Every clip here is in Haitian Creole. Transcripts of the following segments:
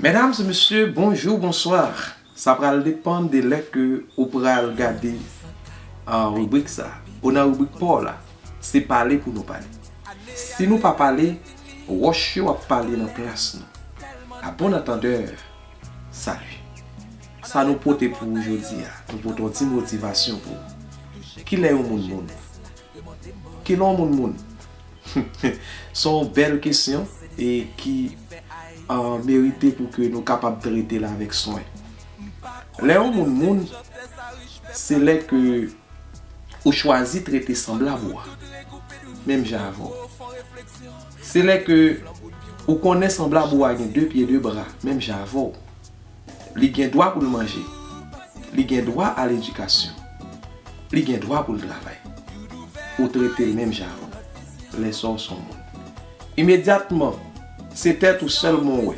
Mesdames et messieurs bonjour bonsoir sa pral depan de lè ke ou pral gade ribrik sa ou nan ribrik paw la se pale pou nou pale si nou pa pale wòch yo ap pale nan plas nou a bon antandè salut sa nou pote pou ou jodi a nou pote yon ti motivasyon pou ou kilè yon moun moun kilè yon moun moun Humm son bèl kesyon e ki merite pou ke nou kapab trete l avèk swen. Lè yon moun moun, se lè ke ou chwazi trete sanblab ou a, menm jan avè w. Se lè ke ou konnen sanblab ou a gen 2 pye 2 bra, menm jan avè w. Li gen dwa pou l manje. Li gen dwa a ledikasyon. Li gen dwa pou l travay. Ou trete l menm jan avè w. Lè sa w s on moun. Imedyatman, se tèt ou sèlman w wè.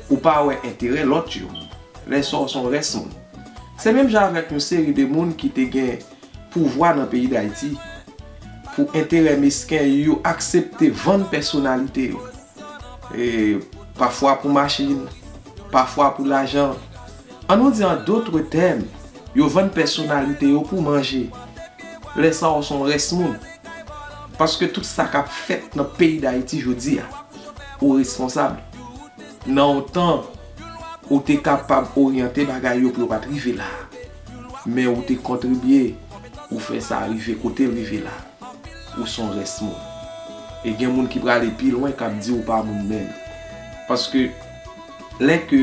Ou pa wè enterè lòt yo. Lè sa w s on rès moun. Se menm jan avèk yon seri de moun ki te gen pouvwa nan peyi Dayiti. Pou enterè mesken, yo aksepte vann pèsonalite yo. e pafwa pou machin, pafwa pou lajan. An nou di an dotre tèm, yo vann pèsonalite yo pou manje. Lè sa ou son rès moun. Paske tout sa kap fèt nan peyi Dayiti jodi a, ou responsab. Nan yon tan, ou te kapab oryante bagay yo pou yo pat rive la. Men ou te kontribye pou fè sa rive kotel rive la. ou s on rès moun. E gen moun ki prale pi lwen k ap di ou pa moun menm. Paske lè ke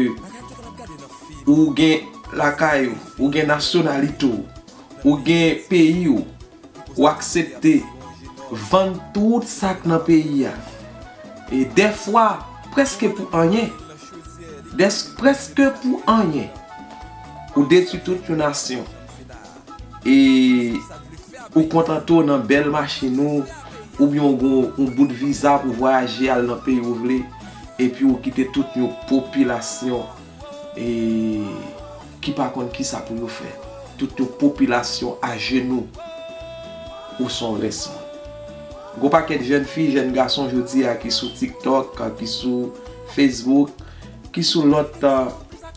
ou gen lakay ou, ou gen nasyonalite ou, ou gen peyi ou, ou aksepte vann tout sa k nan peyi a. E dèfwa prèske pou anyen, prèske pou anyen, ou detwi tout yon nasyon. E ou kontante w nan bèl machin ou, oubyen ou gen yon bout viza pou vwayaje al nan peyi ou vle, epi ou kite tout yon popilasyon e ki pa konn kisa pou yo fè, tout yon popilasyon ajenou, ou son rès moun. Gon pakèt jèn fi, jèn gason jodi a ki sou TikTok, ki sou Facebook, ki sou lòt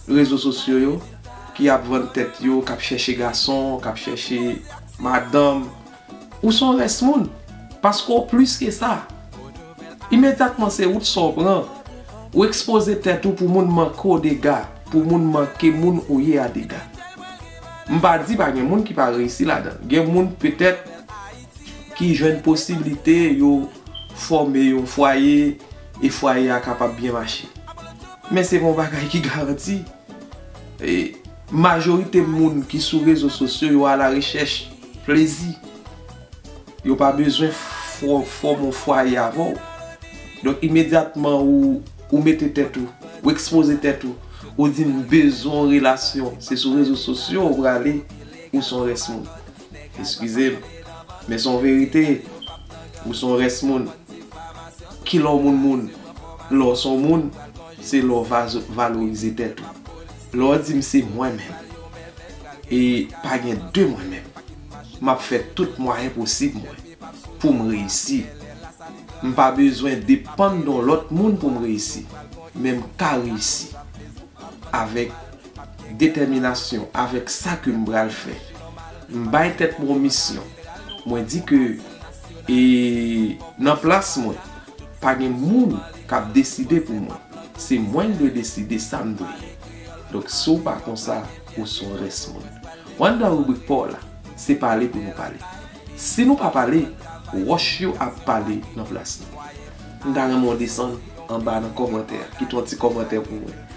rezo sosyo yo. Ki ap vann tèt yo, k ap chèche gason, k ap chèche madanm. Ou s on rès moun. Paske w plis ke sa. Imedyatman se wout sa w pran. Ou ekspoze tèt ou pou moun manke w dega. Pou moun manke moun ou ye a dega. M pa di pa gen moun ki pa reyisi ladan l. Gen moun petèt ki jwenn posiblite yo fòme yon fwaye e fwaye a kapab byen mache. Men se pa yon bagay ki garanti. Majorite moun ki sou rezo sosyo yo ala rechèch plezi. Yo pa bezwen fòme yon fwaye avè w. Donk imedyatman ou mete tèt ou, ou ekspoze tèt ou, ou di m bezwen yon relasyon, se sou rezo sosyo ou prale ou son rès moun. Eskize m, men son verite, ou son rès moun. Ki lè w moun moun? Lè w son moun, se lè w valorize tèt ou. Lè w di m se mwen menm, e pa gen de mwen menm, m ap fè tout mwayen posib mwen pou m reyisi. M pa bezwen depann de yon lòt moun pou m reyisi, men m ka reyisi avèk. detèminasyon avèk sa ke m pral fè. M bay tèt mwen yon misyon. Mwen di ke e nan plas mwen, pa gen moun k ap deside pou mwen. Se mwen ki dwe deside sa m dwe ye. Donk si w pa konsa, ou s on rès moun. One dan ribrik pa w la, se pale pou nou pale. Si nou pa pale, wòch yo ap pale nan plas nou. M ta renmen w desann anba nan kòmantè a, kite yon ti kòmantè pou mwen.